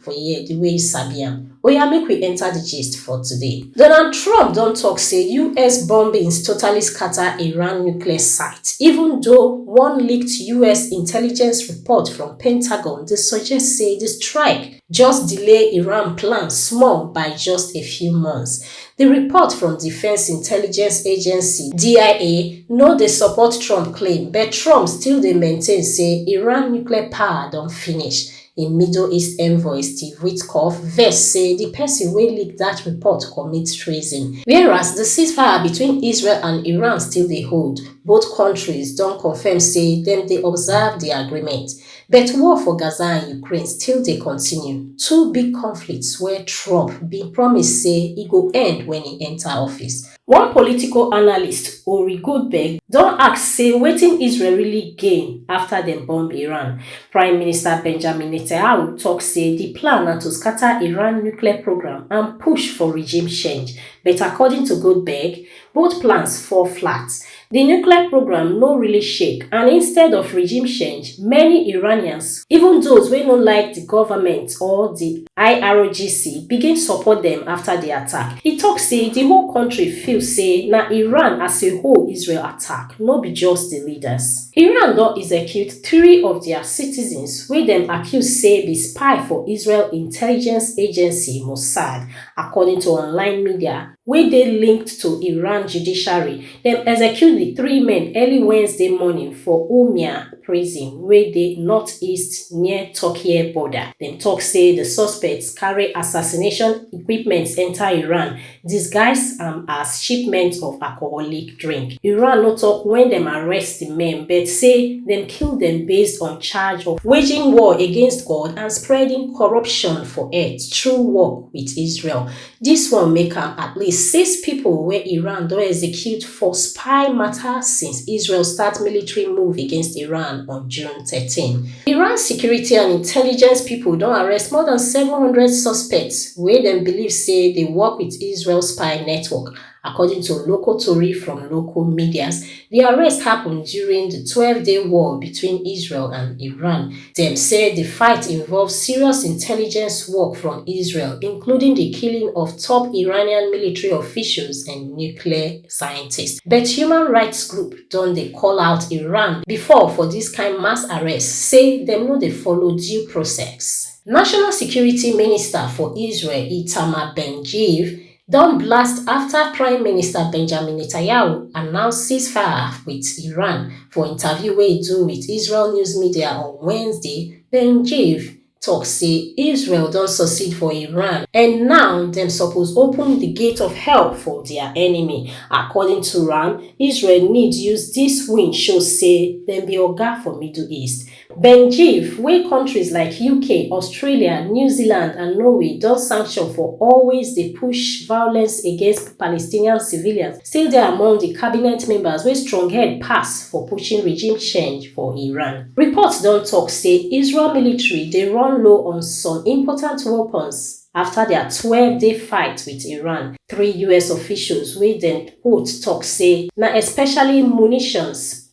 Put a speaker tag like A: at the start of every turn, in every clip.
A: for here di way you sabi am. Oya make we enter di gist for today. Donald Trump don tok say us bombings totally scata Iran nuclear site, even though one leaked us intelligence report from Pentagon dey suggest say di strike just delay Iran plan small by just a few months. Di report from Defence Intelligence Agency, DIA, no dey support Trump claim, but Trump still dey maintain say Iran nuclear power don finish. Im Middle East envoy, Steve Witkoff, vex say di pesin wey leak dat report commit treason. Whereas di ceasefire between Israel and Iran still dey hold, both kontris don confirm say dem dey observe di agreement. But war for Gaza and Ukraine still dey continue, two big conflicts wey Trump bin promise say e go end wen e enta office. One political analyst, Uri Goldberg, don ask say wetin Israel really gain afta dem bomb Iran. Prime Minister Benjamin Netanyahu tok say di plan na to scata Iran nuclear programme and push for regime change, but according to Goldberg, both plans fall flat. di nuclear programme no really shake and instead of regime change many iranians even those wey no like di goment or di irgc begin support dem afta di attack e tok say di whole kontri feel say na iran as a whole israel attack no be just di leaders. iran don execute three of dia citizens wey dem accuse say be spy for israel intelligence agency mossad according to online media. wey dey linked to iran judiciary dem execute di three men early wednesday morning for urmia prison wey dey northeast near turkey border dem tok say di suspects carry assassination equipment enta iran disguise am as shipment of alcoholic drink iran no tok wen dem arrest di men but say dem kill dem based on charge of waging war against god and spreading corruption for earth through work wit israel Dis one make am at least six pipo wey Iran don execute for spy mata since Israel start military move against Iran on June thirteen. Iran security and intelligence pipo don arrest more dan seven hundred suspects wey dem believe say dey work wit Israel spy network According to local tori from local medias, di arrest happun during di twelve-day war between Israel and Iran. Dem say di fight involve serious intelligence work from Israel, including di killing of top Iranian military officials and nuclear scientists. But human rights group don dey call out Iran before for dis kain mass arrests, say dem no dey follow due process. National security minister for Israel, Itamar Ben-Gvir, don blast afta prime minister benjamin netanyahu announce ceasefire wit iran for interview wey e do wit israel news media on wednesday ben gvir tok say israel don succeed for iran and now dem suppose open di gate of hell for dia enemy according to am israel need use dis win show say dem be oga for middle east benjif wey kontris like uk australia new zealand and norway don sanction for always dey push violence against palestinian civilians still dey among di cabinet members wey stronghead pass for pushing regime change for iran. reports don tok say israel military dey run low on some important weapons afta dia twelve day fight wit iran three us officials wey dem quote tok say na especially munitions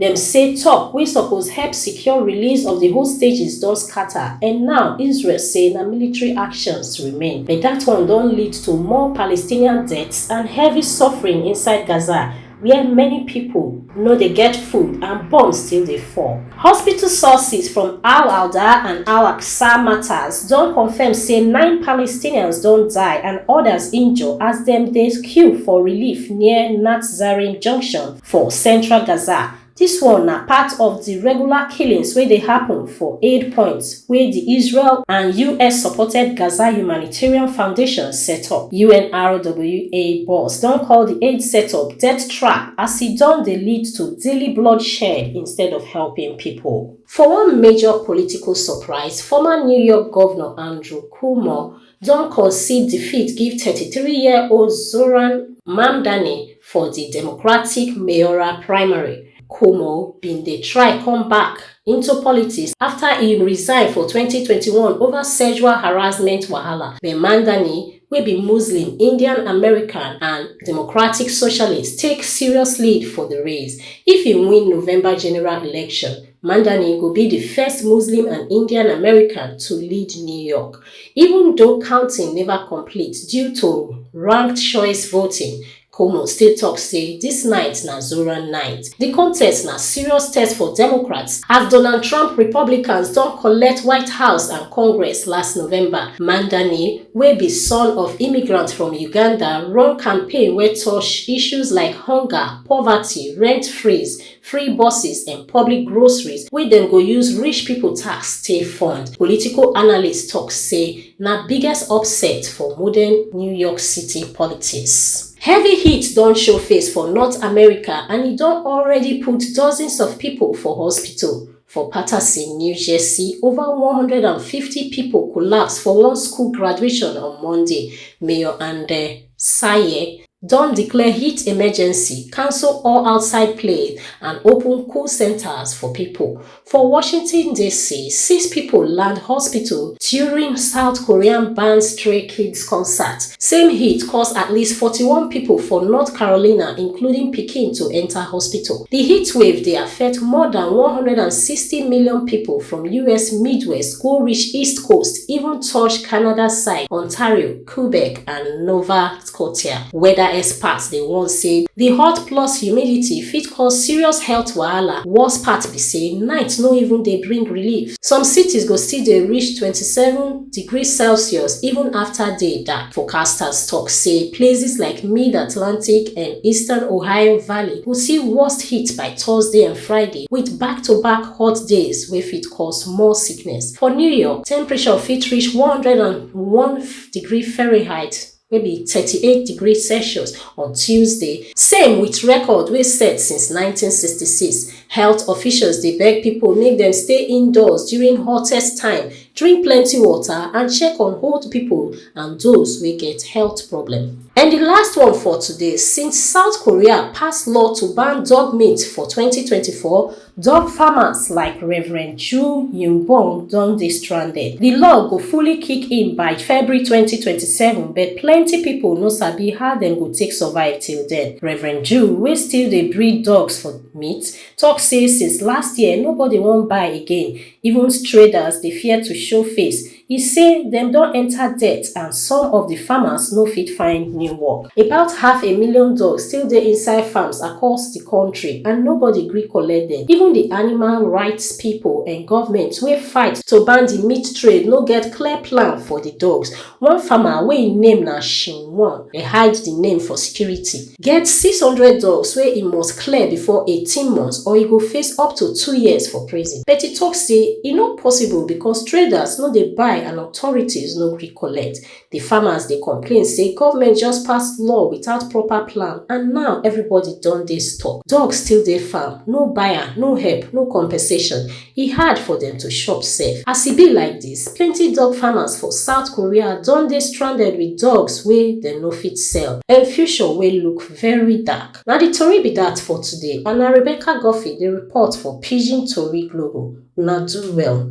A: Dem say tok wey suppose help secure release of di hostages don scata and now Israel say na military actions remain. But dat one don lead to more Palestinian deaths and heavy suffering inside Gaza wia many pipo no dey get food and bombs still dey fall. Hospital sources from Al Alda and Al Aqsa Martyrs don confirm say nine Palestinians don die and odas injure as dem dey queue for relief near Natszarim Junction For central Gaza, dis one na part of di regular killings wey dey happun for aid points wey di Israel and US-supported Gaza Humanitarian Foundation set up. UNRWA boss don call di aid setup death trap as e don dey lead to daily bloodshed instead of helping pipo. For one major political surprise, former New York Govnor Andrew Cuomo don concede defeat give thirty three year old zohran mamdani for di democratic mayoral primary cuomo bin dey try come back into politics afta e resign for twenty twenty one over sexual harassment wahala but mamdani wey be muslim indian american and democratic socialist take serious lead for di race if e win november general election mamdani go be di first muslim and indian american to lead new york Even though counting neva complete due to ranked choice voting, Cuomo still tok say dis night na Zoran night. Di contest na serious test for Democrats as Donald Trump Republicans don collect White House and Congress last November. Mandani, wey be son of immigrant from Uganda, run campaign wey touch issues like hunger, poverty, rent freeze, free buses and public groceries wey dem go use rich pipo tax take fund political analysts tok say na biggest upset for modern new york city politics. Heavy heat don show face for North America and e don already put dozens of pipo for hospital. For Patterson, New Jersey, over one hundred and fifty pipo collapse for one school graduation on Monday, Mayor Andy Saye don declare heat emergency, cancel all outside play and open cool centres for pipo. For Washington DC, six pipo land hospital during South Korean ban stray kids concert. Same heat cause at least 41 pipo for North Carolina including pikin to enta hospital. Di heatwave dey affect more dan 160 million pipo from us Midwest go reach East Coast even touch Canada side, Ontario, Quebec and Nova Scotia. Weather experts dey warn say di hot plus humidity fit cause serious health wahala, worst part be say night no even dey bring relief. Some cities go still dey reach 27. degrees Celsius even afta day dark. Forecasters tok say places like mid-Atlantic and eastern Ohio Valley go see worst heat by Thursday and Friday, wit back-to-back hot days wey fit cause more sickness. For New York, temperature fit reach one hundred and one degree Fahrenheit. wey be thirty-eight degree celsius on tuesday same wit record wey set since nineteen sixty-six health officials dey beg pipo make dem stay indoors during hottest time drink plenty water and check on old pipo and those wey get health problem and di last one for today since south korea pass law to ban dog meat for twenty twenty-four Dog farmers like Rev. Chu Yingbong don dey stranded. Di law go fully kick in by February twenty twenty seven but plenty pipo no sabi how dem go take survive till den. Rev. Chu, wey still dey breed dogs for meat, tok say since last year nobody wan buy again, even straders dey fear to show face E say dem don enta debt and some of di farmers no fit find new work. About half a million dogs still dey inside farms across di kontri and nobody gree collect dem. Even di animal rights pipo and govment wey fight to ban di meat trade no get clear plan for di dogs. One farmer wey im name na Shin Won dey hide di name for security. get six hundred dogs wey e must clear bifor eighteen months or e go face up to two years for prison but e tok say e no possible becos traders no dey buy and authorities no gree collect di farmers dey complain say goment just pass law without proper plan and now everybody don dey stuck dogs still dey farm no buyer no help no compensation E hard for dem to chop sef. As e be like dis, plenty dog farmers for South Korea don dey stranded with dogs wey dem no fit sell. Dem future wey look very dark. Na di tori be dat for today and na Rebecca Guffey dey report for Pidgin Tori Global. Una do well.